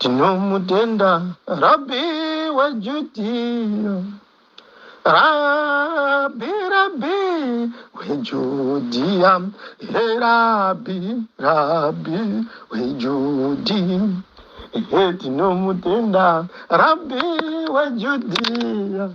Tinomutenda Rabbi weJudhiya, Rabbi, Rabbi weJudhiya, he Rabbi, Rabbi weJudhiya. He tinomutenda Rabbi weJudhiya,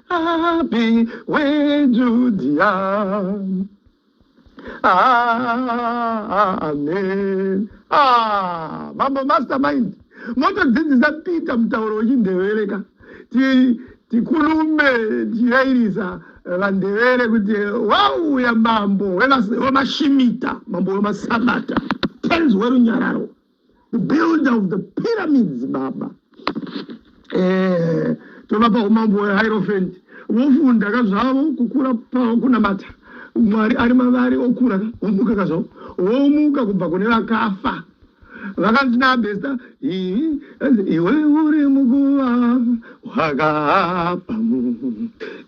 Api weJudhia amen ah, mambo mastermind motodzidzisa peter mutauro wechindevere ka tikulume tichiyairisa vandevere kuti wauya mambo wemashimita mambo wemasabata tenzi werunyararo builder of the pyramids baba eh, tovapa umambo hwehairofent vofunda ka zvavo kukura kunamata mwari ari mavari okura omuka ka zvavo womuka kubva kune vakafa vakanzi naabesta iwe uri muguva wakavamu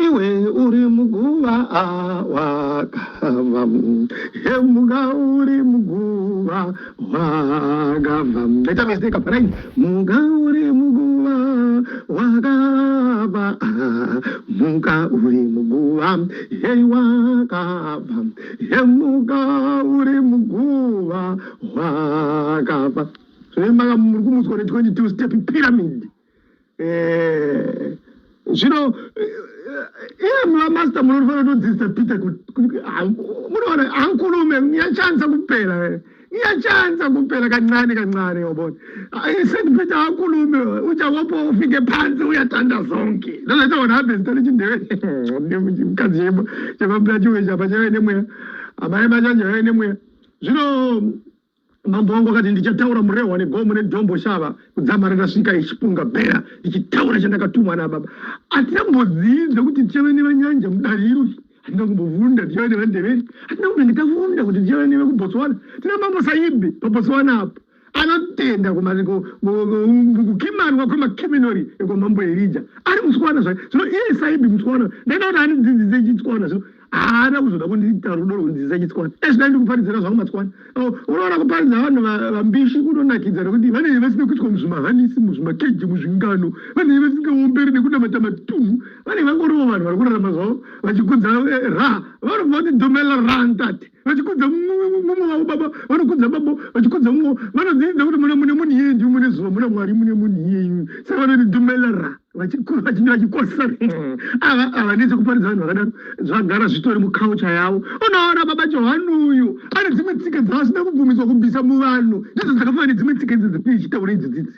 iwe uri muguva wakavamu hemuka uri muguva wakavamu ndaita mistake apa right muka uri muguva wakava muka uri muguva hei wakava hemuka uri muguva wakava zvemaka muri kumutswa ne 22 step pyramid Eh, zvino eh, eh, iye mamaster munofanira kutodzidzisa peter munoona hankulume nyachanza kupera nyachanza kupera kancane kancane wabona isati peter hankulume uchawopo ufike pansi uyatanda zonke ndozvaita one happens tari chindevemukadzi chemabulachiwe chapa chave nemweya amai machacho yave nemweya zvino Mambo wangu akati ndichataura murehwa negomo nedombo shava kudzamara ndasvika ichipunga bhera ichitaura chandakatumwa nababa. Hatina kumbodziidza kuti tichave nevanyanja mudare iro. Hatina kumbovunda tichave nevandeveri. Hatina kumbenge tavunda kuti tichave nevekuBotswana. Tina mambo saibi paBotswana apo anotenda kukimanwa kwemakiminori ekwamambo erija ari mutswana zvayo zvino iye saibi mutswana ndaida kuti andidzidzise chitswana zvino haana kuzoda kundiita rudo rwunzisa chitswana ezvida ndikuparidzira zvangu matswana unoona kuparidza vanhu vambishi kunonakidza nekuti vanenge vasina kuitwa muzvimahanisi muzvimakeji muzvingano vanenge vasingaomberi nekunamata matunhu vanenge vangorivo vanhu vari kurarama zvavo vachikudza eh, ra vanobva kuti domela rantati vachikudza mumwe wavo baba vanokudza baba vachikudza mumwe vanodziidza kuti mune mune munhu iyeyu ndiu mune zuva muna mwari mune munhu iyeyu saka vanoti dumelara vachikosa ava ava nechekuparidza vanhu vakadaro zvagara zvitori mukaucha yavo unoona baba johani uyu ane dzimwe tsika dzaasina kubvumidzwa kubvisa muvanhu ndidzo dzakafanana nedzimwe tsika idzi dzatinoichitaura idzi dzidzi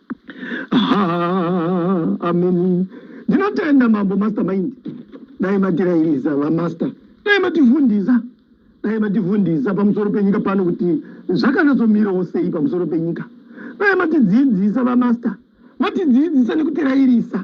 amen ndinotenda mambo master mind dai matirairiza vamaster dai matifundisa dai matifundisa pamusoro penyika pano kuti zvakanatsomirawo sei pamusoro penyika dai matidzidzisa vamaster matidzidzisa nekutirairisa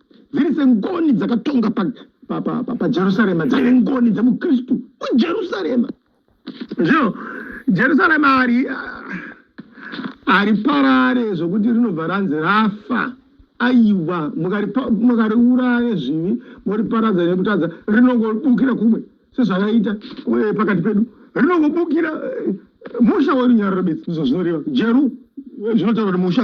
dziri sengoni dzakatonga pajerusarema dzaive ngoni dzemukristu mujerusarema zvino jerusarema ari hariparare zvokuti rinobva ranzi rafa aiwa mukariuraya zvivi moriparadza nekutadza rinongobukira kumwe sezvakaita eh, pakati pedu rinongobukira eh, musha werunyararo bedzi ndizvo zvinoreva jeru eh, zvinotaura kuti musha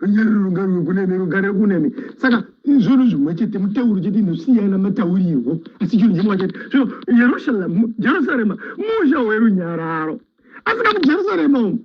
runyari rungano kunene rugare kunene saka izvozvo zvimwe chete mutauro chete inosiyana mataurirwo asi chinhu chimwe chete zvino yerushalemu jerusarema musha werunyararo asika mujerusarema umu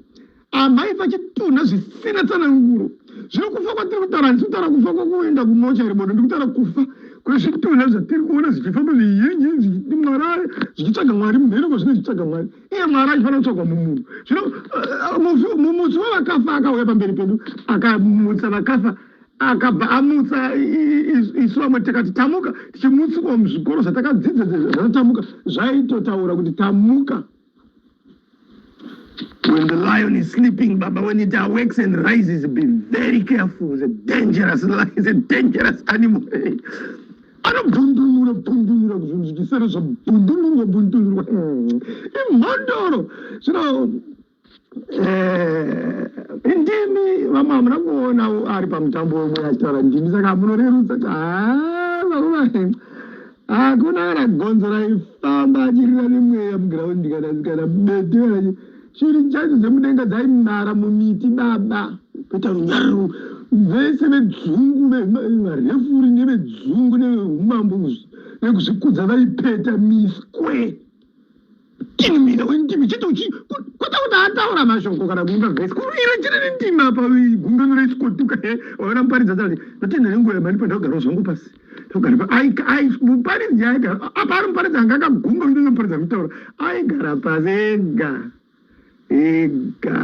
amai vachitunha zvisina tsananguro zvino kufa kwatiri kutaura handisi kutaura kufa kwakuenda kumocha ribodo ndi kutaura kufa kwezvitunha zvatiri kuona zvichifa muzviyinji zvichiti mwarare zvichitsvaga mwari mumheno kwazvine zvichitsvaga mwari iye mwari achifanira kutsvagwa mumunhu zvino eh, mumutsi wavakafa akauya pamberi pedu akamutsa vakafa akabva amutsa isu vamwe takati tamuka tichimutswa muzvikoro zvatakadzidza zvatamuka zvaitotaura kuti tamuka When the lion is sleeping, Baba, when it awakes and rises, be very careful. It's a dangerous lion, it's a dangerous animal. anobundunura bundunura kuzvunzikisera zvabundunurwa bundunurwa imhondoro zvino ndimi vamwe hamuna kuonawo ari pamutambo wemwe achitaura ndimi saka munorerutsa hakuna kana gonzo raifamba achirira nemweya mugiraundi kana kana bete Shiri chaidzo dzemudenga dzaimara mumiti baba kuita runyaru vese vedzungu varefuri nevedzungu neveumambo nekuzvikudza vaipeta miswe tinimina wendimi chete uchi kwete kuti ataura mashoko kana kuimba vhesi kuruira chiri nendimi apa gungano reisikotuka waona muparidza dzati ndatenda nenguva yamani pandakagarawo zvangu pasi muparidzi aigara apa ari muparidzi anga akagumba kuti noparidza kutaura aigara pasi ega ega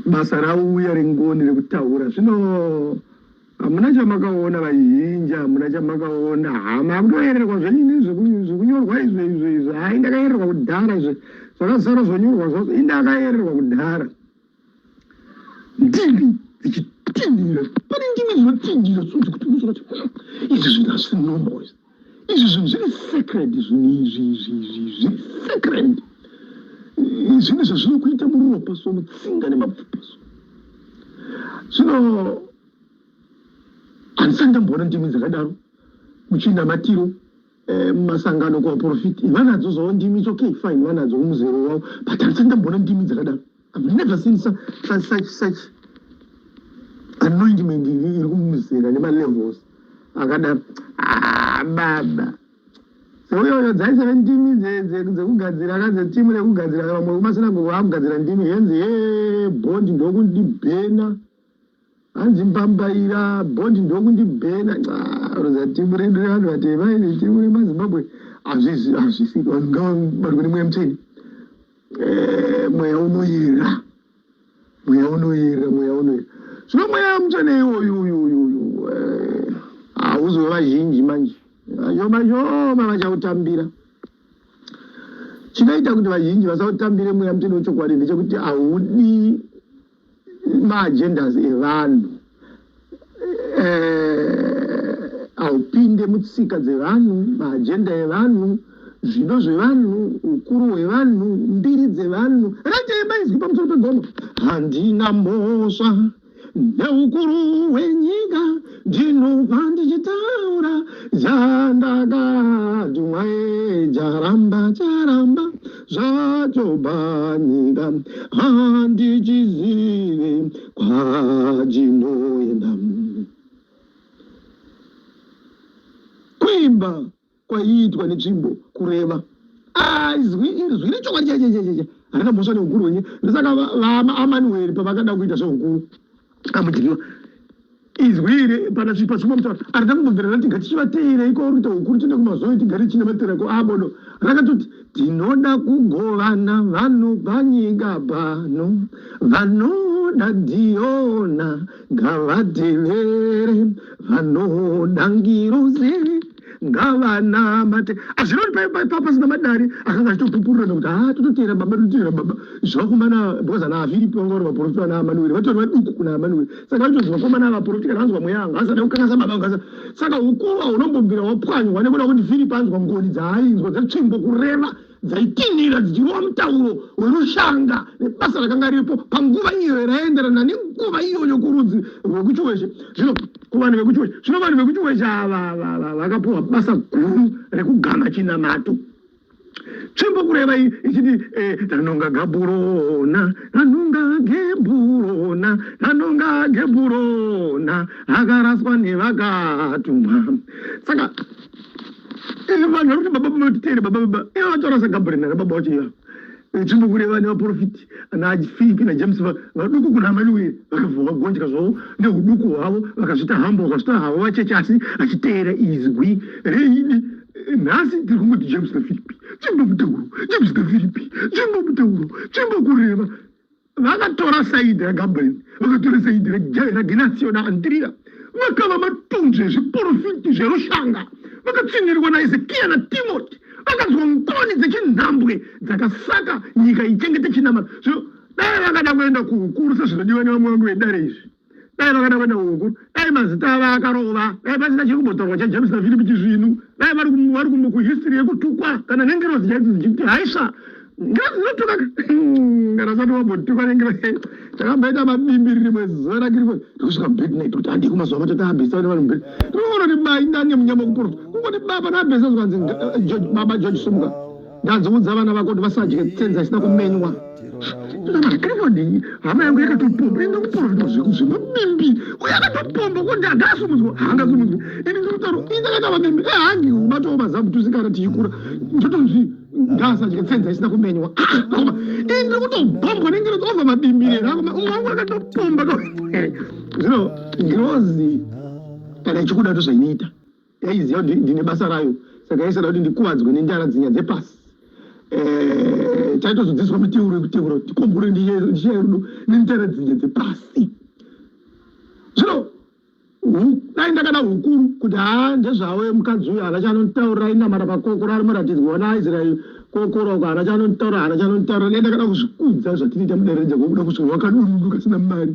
basa rauya ringoni rekutaura zvino hamuna chamakaona vazhinji hamuna chamakaona hama kutoyererwa zvenyu nezvekunyorwa izvo izvo izvo hai ndakayererwa kudhara izvo zvakazara zvonyorwa zvazo indakayererwa kudhara ndimi dzichitindira pane ndimi dzinotindira dzinozi kuti kuzoa kuti izvi zvinhu hazvisi normal izvi izvi zvinhu zviri sacred zvinhu izvi izvi izvi zviri sacred zvinhu zvazvinokuita muropa so mutsinga nemapfupa so zvino handisati ndamboona ndimi dzakadaro muchinamatiro Eh, masangano kuvaprofiti vanadzo zvavo ndimi its okay fine vanadzo kumuzero wavo but handisati ndamboona ndimi dzakadaro i've never seen such such such anointment iri kumuzera nemalevels akadaro ah, baba seuyoyo dzaiseve ndimi dzekugadzira ka dzetimu rekugadzira vamwe kumasinagogo akugadzira ndimi henzi he bondi ndokundibhena hanzi mbambaira bond ndokundibhena roza timu redu revanhu vatema iri timu remazimbabwe hazvizi hazvisi vanhu ngavabatwe nemweya mucheni eh, mweya unoyera mweya unoyera mweya unoyera zvino mweya muchene iwoyu uyu uyu uyu eh, hauzova vazhinji manje vashoma shoma vachautambira chinoita kuti vazhinji vasautambire mweya muchene wechokwadi ndechekuti haudi maagendas evanhu eh, haupinde mutsika dzevanhu maagenda evanhu zvido zvevanhu ukuru hwevanhu mbiri dzevanhu rateebaizwi pamusoro pegomo handina mhosva neukuru hwenyika ndinobva ndichitaura zandakadumwae jaramba jaramba zvatobanika handichizive kwajinoenda kuimba kwaiitwa netsvimbo kureva aizwi izwi rechokwadi chaichechecheche harina mhosva neukuru wenye ndosaka vaamanueri pavakada kuita zveukuru amudyiwa izwi iri pana zvipa zvimwe mutaura arida kumbobvira rati ngatichivateera iko uri kuita hukuru tiende kumazoe tigare tichina matera ko abodo ah, rakatoti tinoda kugovana vanhu panyika pano vanoda diona ngavatevere vanoda ngiroze ngavanamate azvinoti paipa pasina madari akanga achitopupurirana kuti haa tototeera baba tototeera baba zvakomana because ana aviri panga vari vaporofita vana amanueri vatori vaduku kuna amanueri saka vaito zvakomana avaporofita kana anzwa mweya anga asada kukangasa baba angasa saka ukuva unombobvira wapwanywa nekuda kuti firipi anzwa ngoni dzaainzwa dzetsvimbo kureva dzaitinhira dzichirova mutauro werushanga nebasa rakanga riripo panguva iyo raienderana nenguva iyoyo kurudzi rwekuchiwezhe zvino kuvanhu vekuchiwezhe zvino vanhu vekuchiwezhe ava vakapiwa basa guru rekugama chinamato tsvimbo kureva ichiti eh, tanonga gaburona tanonga geburona tanonga geburona akaraswa nevakatumwa saka Eh, vanhu vari kuti baba matitere baba baba ivo eh, vataura sagabrina nababa wacho iva nzvimbo kune vane vaprofiti nafipi najames vaduku kuna amanueri vakavavagonja zvavo neuduku hwavo vakazvita hambo vakazvita havo vacheche asi achiteera izwi reidi eh, nhasi tiri kungoti james nafiripi chimbo mutauro james nafiripi chimbo mutauro chimbo kureva vakatora saidi ragabrieri vakatora saidi ragenasio naandriya vakava matunzvi ezviporofiti zverushanga vakatsinhirirwa naezekiya natimoti vakanzwa ngoni dzechinhambwe dzakasaka nyika ichengete chinamata zvino dai vakada kuenda kuukuru sezvinodiwa nevamwe vangu vedare izvi dai vakaenda kuenda huku dai mazita ava akarova dai pasina chiri kumbotaurwa chajames nafilipi chizvinu dai vari kuhistory yekutukwa kana nengirozi chaiti dzichiti haisva ngirozi dzinotuka kana zati wambotukwa nengirozi chakamboita mabimbiriri mwezuva rakiriko tikusvika mubednit kuti handii kumazuva macho taabhesa vane vanhu mberi tinoona kuti bai ndani nemunyama kuporota kungoti baba naabhesa zvikanzi baba george sumuka Ndazoudza vana vako kuti vasadye tsenza isina kumenywa. Ndakadii hama yangu yakatopomba inga kuporofita zvekuzvimba mimbi uye akatopomba kuti angasumudzwa haangasumudzwi ini ndikutaura inga yakava mimbi ehangi eh, ubatawo mazamu tusikana tichikura ndotonzvi ngasadye tsenza isina kumenywa ah, koma ini ndiri kutobhombwa nengero dzova madimbire rakoma umwe wangu akatopomba zvino ngirozi kana ichikuda tozvainoita yaiziva kuti ndine basa rayo saka yaisada kuti ndikuvadzwe nendara dzinya dzepasi eh, taitozodzidziswa miteuro yekuteura kuti tikombure ndiya yerudo nendara dzinya dzepasi zvino dai ndakada hukuru kuti haa ndezvavo mukadzi uyo hana chanonditaurira inamata pakokora ari muratidzwa wana aisraeri kokora uko hana chanonditaurira hana chanonditaurira dai ndakada kuzvikudza zvatinoita mudereja kwokuda kuzviwakadunundu kasina mari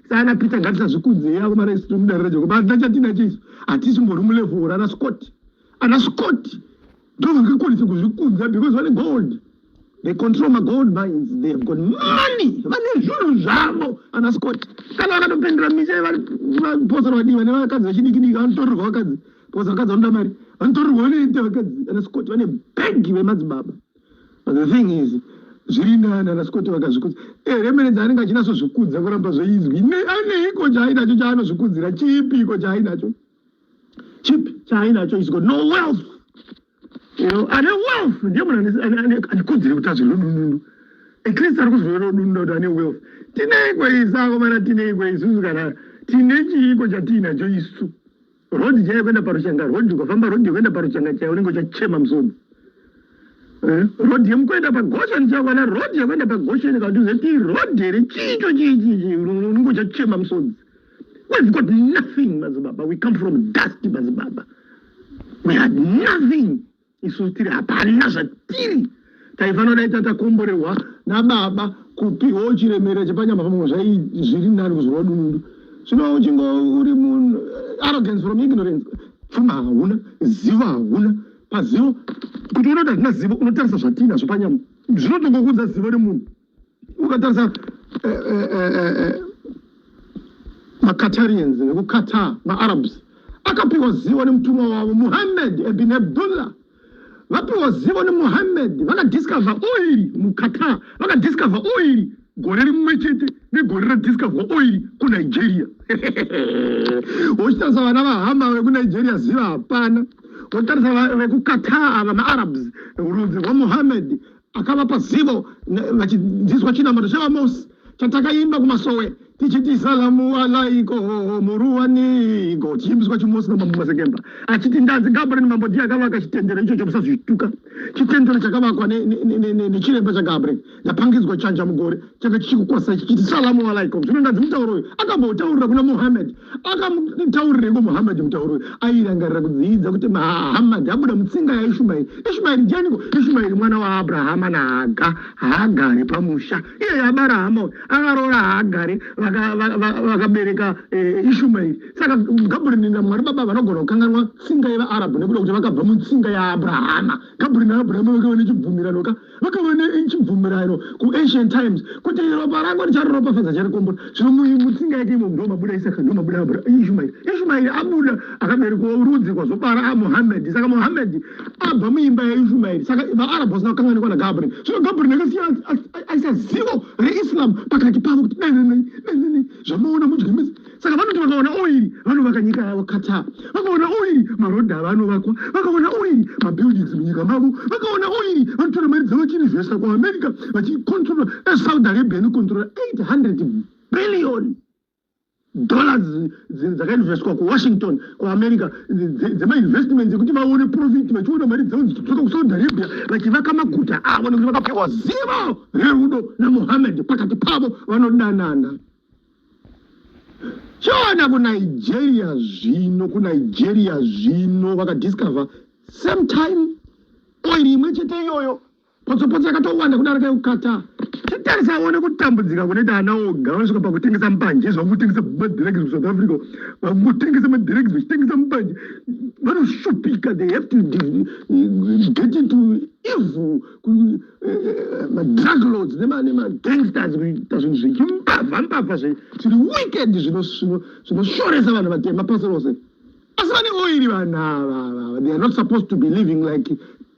Sana Peter ngatisazvikudze yavo mara isu mudare rejoko basa chatinacho isu hatisimbori mulevhora ana Scott ana Scott ndovakakwanisa kuzvikudza because vane gold they control my gold mines they have got money vane zvinhu zvavo ana Scott kana vakatopendera misha vaposera vadii vane vakadzi vechidikidiki vanotorerwa vakadzi because vakadzi vanoda mari vanotorerwa vanoita vakadzi ana Scott vane bhegi vemadzibaba But the thing is zviri nani ana Scott vakazvikudza eh remene dzaanenge achinatso zvikudza kuramba zveizwi ne ane iko chainacho chaanozvikudzira chipi iko chainacho chipi chainacho is got no wealth you know ane wealth ndiye munhu ane ane anikudzira kuti azviro dundu at least ari kuzviro dundu kuti ane wealth tineiko izako mana tineiko isusu kana tine chiiko chatiinacho isu road chaiyo kuenda parushanga road ukafamba road yekuenda parushanga chaiyo unenge uchachema musoro eh, road yemukuenda pagosheni chaiyo kana road yekuenda pagosheni kana uzoti road here chicho chiichichi unenge uchachema musoro we've got nothing mazibaba we come from dusty mazibaba we had nothing isu tiri hapana zvatiri taifanira dai tatakomborerwa nababa kupiwa uchiremera chepanyama pamwe zvai zviri nani kuzova dunundu zvino uchingo uri munhu eh, arrogance from ignorance pfuma hauna zivo hauna pazivo kuti unoda zvina zivo unotarisa zvatinazvo panyama zvinotongokuudza zivo remunhu ukatarisa eh, eh, eh, eh, eh macatarians vekuqatar maarabs akapiwa zivo nemutumwa wavo muhammed ebin abdullah vapiwa zivo nemuhammed vakadiscover oiri muqatar vakadiscover oiri gore rimwe chete negore radiscover oiri kunigeria wochitarisa vana vahama vekunigeria ziva hapana wotarisa vekuqatar ava maarabs rudzi rwamuhammed akavapa zivo vachinziswa chinamato chavamosi chatakaimba kumasowe tichiti salamu alaiko muruwaniko tichiimbiswa chimosi namambo masekemba achiti ndanzi gabriel mambo ndiye akavaka chitendero icho chamusazvituka chitendero chakavakwa nechiremba chagabriel yapangidzwa chanja mugore changa chichikukwasai chichiti salamu alaiko zvino ndanzi mutauro uyu akamboutaurira kuna muhammed akamutaurireko muhammad mutauro airangarira kudziidza kuti mahammad abuda mutsinga yaishumairi ishumairi janiko ishumairi mwana waabrahama nahaga haagare pamusha iye abara hama akaroora haagare vakabereka eh, ishumairi saka gabrini namwari baba vanogona kukanganwa tsinga yevaarabhu nekuda kuti vakabva mutsinga yaabrahama gabrini naabrahama vake vane chibvumiranoka vakava nechibvumirano kuancient times kuti ropa rangu richaroropafadza charikombo zvino mutsinga yake imo ndo mabuda isaka ndo mabuda ishumairi ishumairi abuda akaberekwa rudzi kwazobara amuhamedhi saka muhamedhi abva muimba yaishumairi saka vaarabhu vasina kukanganikwa nagabriel zvino gabriel akasiya aisa zivo reislam pakati pavo kuti dai nai dai nai zvamaona mudye mese saka vanoti vakaona oiri vanovaka nyika yavo qatar vakaona oiri marodhi avo anovakwa vakaona oiri mabuildings munyika mavo vakaona oiri vanotora mari dzavo vachiinvesta kuamerica vachicontrola esaudi arabia inocontrola 800 billion dollars dzakainvestwa kuwashington kuamerica dzemainvestment dzekuti vaone profit vachiona mari dzavo dzichidzoka kusaudi arabia vachivaka maguta avo nekuti vakapiwa zivo rerudo namohammed pakati pavo vanodanana choona kunigeria zvino kunigeria zvino vakadiscover same time oiri imwe chete iyoyo potsopotso yakatowanda kudarika yekuqatar titarisa one kutambudzika kunoita ana oga vanosvika pakutengesa mbanje izvo vakutengesa madiregs musouth africa vakutengesa madiregs vachitengesa mbanje vanoshupika they have to get into evil madrug lords nemagangsters kuita zvinhu zvechimbavha mbavha zviri wicked zvinoshoresa vanhu vatema pasi rose asi vane oiri vanhu ava they are not supposed to be living like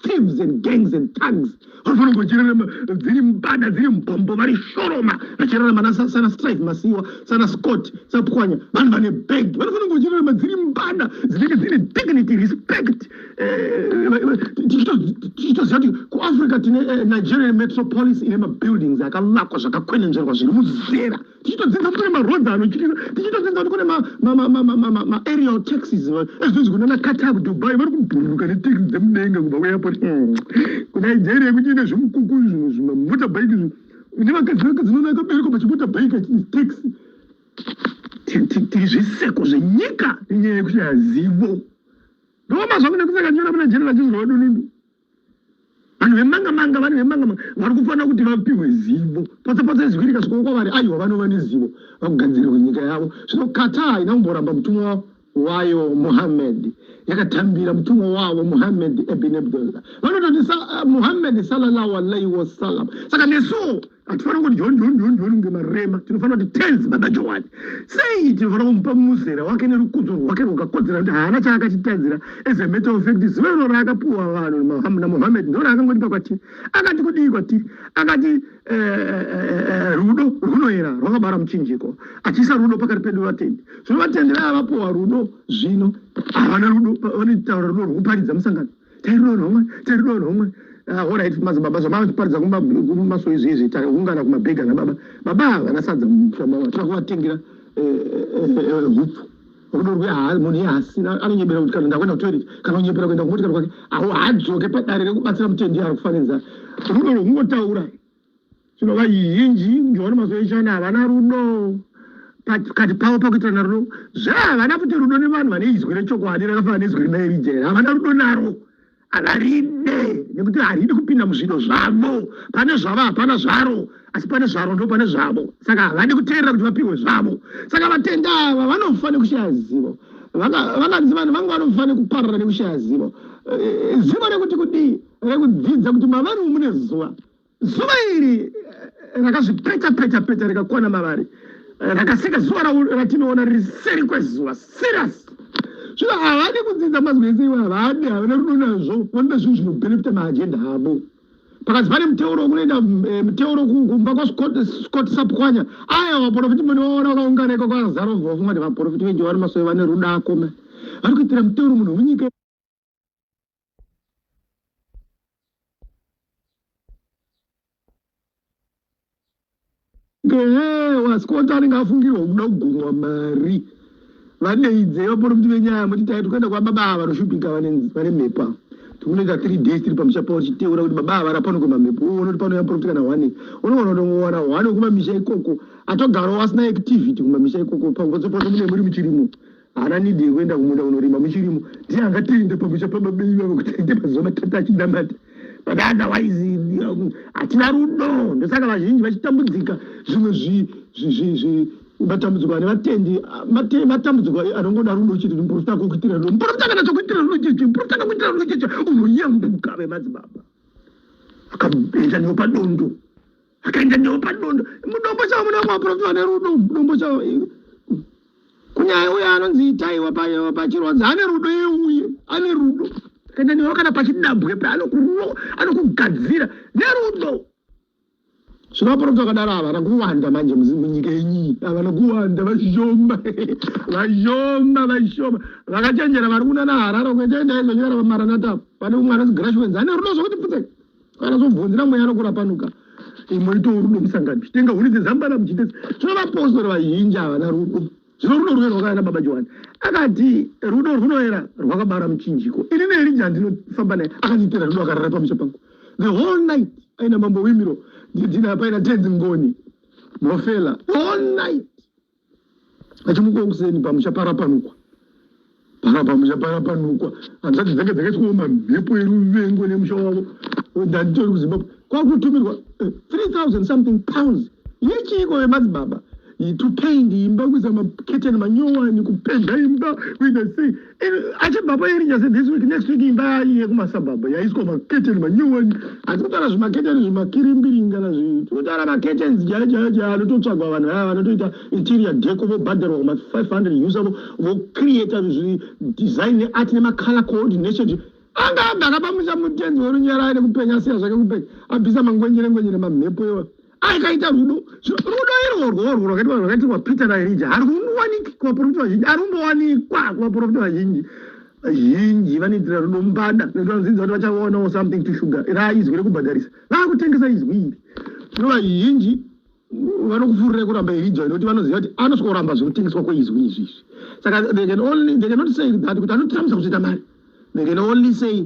thieves and gangs and tugs vanofanira kungochererema dziri mbada dziri mbombo vari shoroma vachererema nasana strife masiwa sana scott sapwanya vanhu vane bag vanofanira kungochererema dziri mbada dzinenge dzine dignity respect tichitoziva kuti kuafrica tine eh, nigerian metropolis ine mabuildings akavakwa zvakakwenenzverwa zviri muzera tichitodzinza kune maroads ano tichitodzinza kuti kune maaerial taxis ezvinzi kuna naqatar kudubai vari kubhururuka netaxi dzemudenga kubva kuairport hmm. kunigeria kuti ine zvimukuku zvinhu zvimamota bike zvinhu une vakadzi vakadzi noona akabereka pachimota bike achiti taxi tiri zviseko zvenyika inyaya yekuti hazivo Roma zvangu nekusaka ndiona muna jeri vachizwa wadunundu. Vanhu vemanga manga vanhu vemanga manga vari kufanira kuti vapihwe zivo. Potsa potsa izwi rika zviko kwavari aiwa vanova nezivo vakugadzirirwa nyika yavo. Zvino Qatar haina kumboramba mutumwa wayo Muhammad yakatambira mutumwa wavo Muhammad ibn Abdullah. Vanototi eh, Muhammad sallallahu alaihi wasallam. Saka nesuwo hatifanira kuti john john john john kunge marema tinofanira kuti tens baba johani sei tinofanira kumupa muzera wake nerukudzo rwake rwakakodzera kuti haana chaakatitadzira as a matter of fact zuva iro raakapiwa vanhu namohammed ndo raakangotipa kwatiri akati kudii kwatiri akati eh, eh, eh, rudo rwunoera rwakabara muchinjiko achiisa rudo pakati pedu vatendi zvino vatendi vaya vapiwa rudo zvino havana rudo vanotaura rudo rwekuparidza musangano tairowa nomwe tairowa nomwe ah, orit mazibaba zvamavachiparidza kumaso izvi izvi taungana kumabhegi ana baba baba vana sadza mushamawa tira kuvatengera hupfu rudo rwe munhu iye hasina anonyebera kuti kana ndakuenda kutoilet kana unyebera kuenda kumotikari kwake haadzoke padare rekubatsira mutendi ari kufaniriza rudo rwekungotaura Zvino vazhinji ndiona mazuva echana havana rudo pakati pavo pakuitirana rudo zvahavana futi rudo nevanhu vane izwi rechokwadi rakafanana nezwi rina erija here havana rudo naro havaride nekuti haridi kupinda muzvido zvavo pane zvavo hapana zvaro asi pane zvaro ndo pane zvavo saka havadi kuteerera kuti vapihwe zvavo saka vatenda ava vanofa nekushaya zivo vakanzi vanhu vanga vanofa nekuparara nekushaya zivo eh, zivo rekuti kudii rekudzidza kuti mavari mune zuva Zuva iri eh, rakazvipeta peta peta rikakwana mavari eh, rakasika zuva ratinoona riri seri kwezuva serious zvino havadi kudzidza mazwi ese iwo havadi havana rudo nazvo vanoda zvinhu zvinobenefita maajenda avo pakati pane muteuro kunoenda eh, muteuro kumba kwascott sapwanya aya vaprofiti mune vaona vakaungana ikoko azaro vovungati vaprofiti venje vari masoe vane rudo akoma vari kuitira muteuro munhu wenyika ehe wasikota anenge afungirwa kuda kugumwa mari vadeidze vaporofiti venyaya moti tai tikuenda kwababa ava vanoshupika vane mhepo ava tikunoita three days tiri pamusha pavo tichiteura kuti baba ava rapano kwemamhepo uone kuti panouya muporofiti kana one unoona kuti ungowana one wekumamisha ikoko atogarawo asina activity kumamisha ikoko pakupotsopotso mune muri muchirimo haana need yekuenda kumunda kunorima muchirimo ndiye angatende pamusha pababei vavo kuti aite mazuva matatu achinamata but otherwise hatina rudo ndosaka vazhinji vachitambudzika zvimwe zvimatambudziko ane vatendi matambudziko anongoda rudo chete muprofita kukuitira rudo muprofita kana chokuitira rudo cheche muprofita kakuitira rudo cheche unoyambuka vemadzibaba akaenda neopadondo akaenda newo padondo mudombo chavo muna maprofita ane rudo mudombo chavo kunyaya uye anonzi itaiwa pachironzi ane rudo iye uye ane rudo akaenda newo kana pachidambwe pe anokugadzira nerudo zvino vaprofita vakadaro ava vana kuwanda manje munyika yenyiyi avana kuwanda vashoma vashoma vashoma vakachenjera vari kunana harara kuechaendaizvanyara vamaranata pane umwe anonzi grashwens ane rudo zvokuti pfutseka kana zvobvunzira mweya anokurapanuka imoito rudo musangano chitenga huni dzezambana muchitesi zvino vapostori vazhinji havana rudo zvino rudo rwunoera rwakavana baba johani akati rudo rwunoera rwakabara muchinjiko ini neelija ndinofamba naye akandiitira rudo akarara pamusha pangu the whole night aina mambo wimiro ndidina paina tenzi ngoni mofela all night achimuka kuseni pamusha parapanukwa parapamusha parapanukwa hanzati dzanga dzakatyooma mhepo yeruvengo nemusha wavo ndanditori kuzimbabwe kwakutumirwa 3000 eh, something pounds yechiiko vemadzibaba to paint imba kuisa maketeni manyowani kupenda imba kuita sei achibvapo erija se this week next week imba yekumasabhabha yaiswa maketeni manyowani hati kutaura zvimaketeni zvimakirimbiringana zvi kutaura maketeni jaya jaya jaya anototsvagwa vanhu vaya vanotoita interior deko vobhadharwa kuma 500 usa vocreata zvidesign neart nemacolor coordination anga agara pamusha mutenzi worunyaraya nekupenya asiya zvake kupenya abvisa mangwenyere ngwenyere mamhepo iwa akaita rudo rudo irworwo urwo rwakaitwa rwakaitirwa peter naerija harungowaniki kuvaprofita vazhinji harungowanikwa kuvaprofita vazhinji vazhinji vanoitira rudo mbada nekuti vanodzinza kuti vachaonawo something to sugar ra izwi rekubhadharisa vakutengesa izwi iri zvino vazhinji vanokufurirai kuramba erija nekuti vanoziva kuti anosvika kuramba zvekutengeswa kweizwi izvi izvi saka they can only they cannot say that kuti anotramisa kuzoita mari they can only say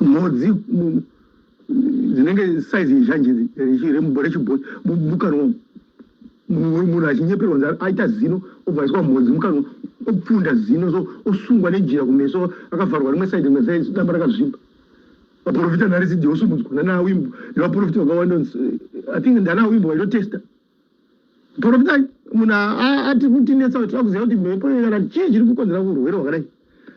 mhodzi dzinenge saizi izhanji rechibhoi mukanwa munhu achinyeperwa nzara aita zino obva aiswa mhodzi mukanwa opfunda zino so osungwa nejira kumeso akavharwa rimwe saidi rimwe saidi damba rakazvipa vaprofita narisidhi osumudzwa nanaawimbo nevaprofita vakawanda i think ndanaawimbo vaitotesta Profita munhu ati kutinetsa kuti tinoda kuziva kuti mhepo inogara chii chiri kukonzera kurwere wakadai.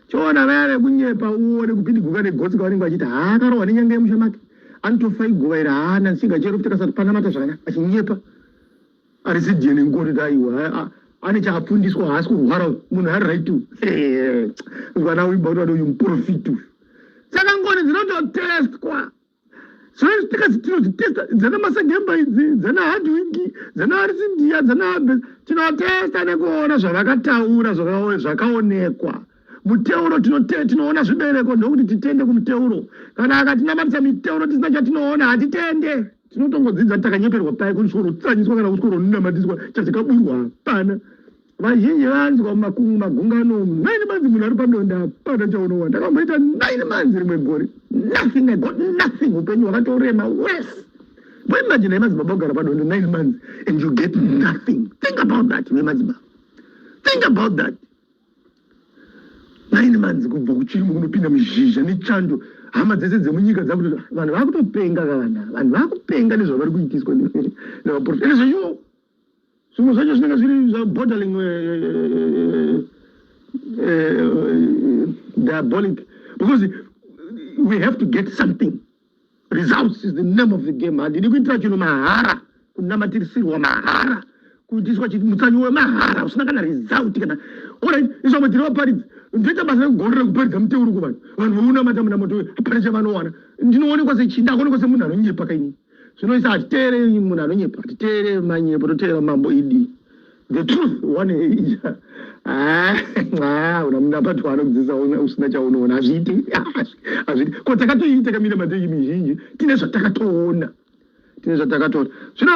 Choona vaya vekunyepa uone kupidiguka negotsi kavanenge vachiti haa akarohwa nenyanga yemusha make anotofa iguva iri haa nansiga chero kuti kasati panamata zvakanya achinyepa arisi dna ngoti kuti aiwa ane chaapfundiswa haasi kurwara munhu ari right mwana uyu bauti vati uyu muprofiti uyu saka ngoni dzinototestwa tikazi tinozvitesta dzana masagemba idzi dzana hardwiki dzana arisindia dzana abes tinotesta nekuona zvavakataura zvakaonekwa muteuro tinoona zvibereko ndokuti titende kumuteuro kana akatinamatisa miteuro tisina chatinoona hatitende tinotongodzidza takanyeperwa paye kutsorotsanyiswa kana kutsoronamadiswa chazikaburwa hapana Vazhinji vanzwa mumakungu magungano umu. Nine months munhu ari padonda hapana chaunowa. Ndakamboita nine months rimwe gore. Nothing, I got nothing. Upenyu hwakatorema worse. Why imagine hai madzibaba kugara padonda nine months and you get nothing. Think about that, ne madzibaba. Think about that. Nine months kubva kuchirimo kunopinda muzhizha nechando. Hama dzese dzemunyika dzakuti vanhu vakutopenga kavana. Vanhu vakupenga nezvavari kuitiswa nevaporofita. Nezveshuwo. zvimwe zvacho zvinenge zviri zvaborderling eh, eh, eh, diabolic because we have to get something results is the name of the game handidi kuitira chinhu mahara kunamatirisirwa mahara kuitiswa mutsanyi wemahara usina kana result kana orit izvamwe tiri vaparidzi ndoita basa rekugorera kuparidza muteuro kuvanhu vanhu vounamata muna moto hapana chavanowana ndinoonekwa sechinda akonekwa semunhu anonyepa kainii zvino isa hatiteereri munhu anonyepa titeerere manyepo toteerera mambo idi the truth one ija ah, ah, una munapato waanokudzidzisa usina chaunoona hazviiti hazviiti ko takatoiita kamira mateki mizhinji tine zvatakatoona tine zvatakatoona zvino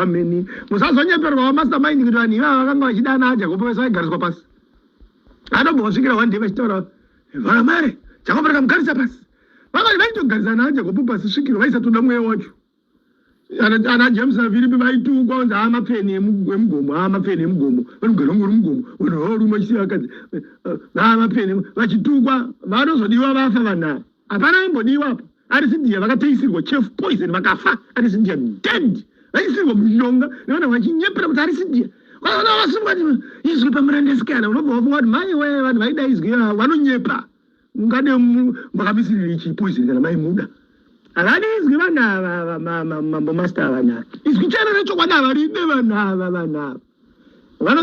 ameni musazonyeperwawo mastermind kuti vanhu ivava vakanga vachidana ajakopo vese vaigariswa pasi anobva vasvikira one day vachitaura vamare jakopo rakamugarisa pasi vakati vaitogarisana ajakopo pasi svikiro vaisatoda mweya wacho ana james nafiripi vaitukwa kunzi haa mapfeni emugomo haa mapfeni emugomo vanogara ngori mugomo vanhu vaorume vachisiya vakadzi haa mapfeni vachitukwa vanozodiwa vafa vanhu ava hapana vambodiwa apa ari zindiya vakateisirwa chef poison vakafa ari zindiya dead vaisirwa munyonga nevana vachinyepera kuti ari zindiya vaona vasungwa izwi pamurandesikana unobva wafunga kuti mai we vanhu vaida izwi ah, vanonyepa ungade makamisiriri ichi poison kana maimuda havadi izwi vanhu ava mambo master vanhu ava izwi chana rechokwadi havaride vanhu ava vanhu ava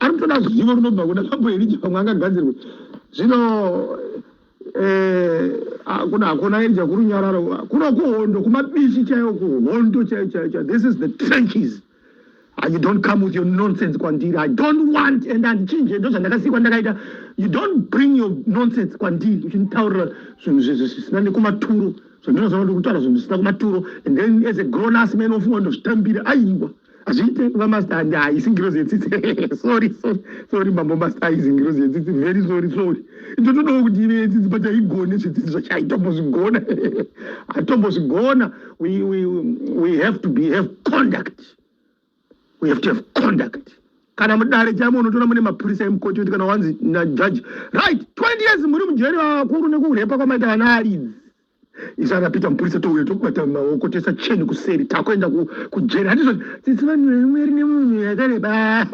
ari kutoda ruzivo runobva kuna mambo erija pamwe angagadzirwe zvino eh, kuna hakuna erija kurunyararo kuno kuhondo kumabishi chaiwo kuhondo chaiyo chaiyo chaiyo this is the trenches And you don't come with your nonsense kwandiri i don't want and andichinje ndo zvandakasikwa ndakaita you don't bring your nonsense kwandiri uchinditaurira zvinhu zvisina nekumaturo zvandinozoona ndikutaura zvinhu zvisina kumaturo and then as a grown us man ofunga ndozvitambira aiwa ah, hazviite kuva master and haisi ngirozi yetsitsi sorry sorry sorry mambo master haizi ngirozi yetsitsi very sorry sorry ndotodawo kuti ive yetsitsi but haigone zvitsitsi zvacho haitombozvigona hatombozvigona we, we, we have to be have conduct we have to have conduct kana mudare chamo unotoona mune mapurisa emukoti kuti kana wanzi najaji right 20 years muri mujeri vakuru nekurepa kwamaita vana aridzi izvana pita mupurisa touya tokubata maoko toisa cheni kuseri takuenda kujeri hatizvo tsitsi vanhu vemweri nemunhu yakareba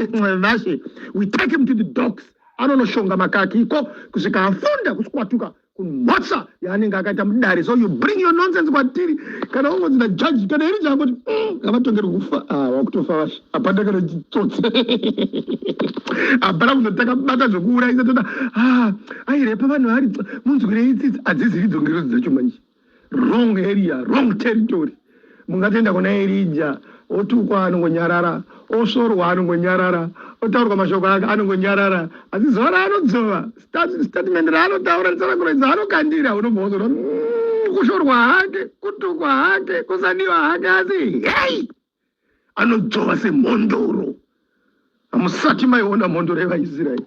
vashe we take him to the dogs anonoshonga makaki iko kusvika afunda kusikwatuka kumhotsa yaanenge akaita mudare so you bring your nonsense kwatiri kana ungonzi najaji kana iri changoti mm, ngavatongerwe kufa ah, wakutofa vashe hapana kana chitsotsi hapana kuno takabata zvekuurayisa toda ah, airepa vanhu ari munzwirei tsitsi hadzizivi dzongerozi dzacho manje wrong area wrong territory mungatoenda kuna erija otukwa anongonyarara osvorwa anongonyarara otaurwa mashoko ake anongonyarara asi zuva raanodzova statement raanotaura risanakuroidza anokandira unobva wazorwa mm, kushorwa hake kutukwa hake kusaniwa hake asi hei anodzvova semhondoro. Hamusati maiona mhondoro yevaIsraeri.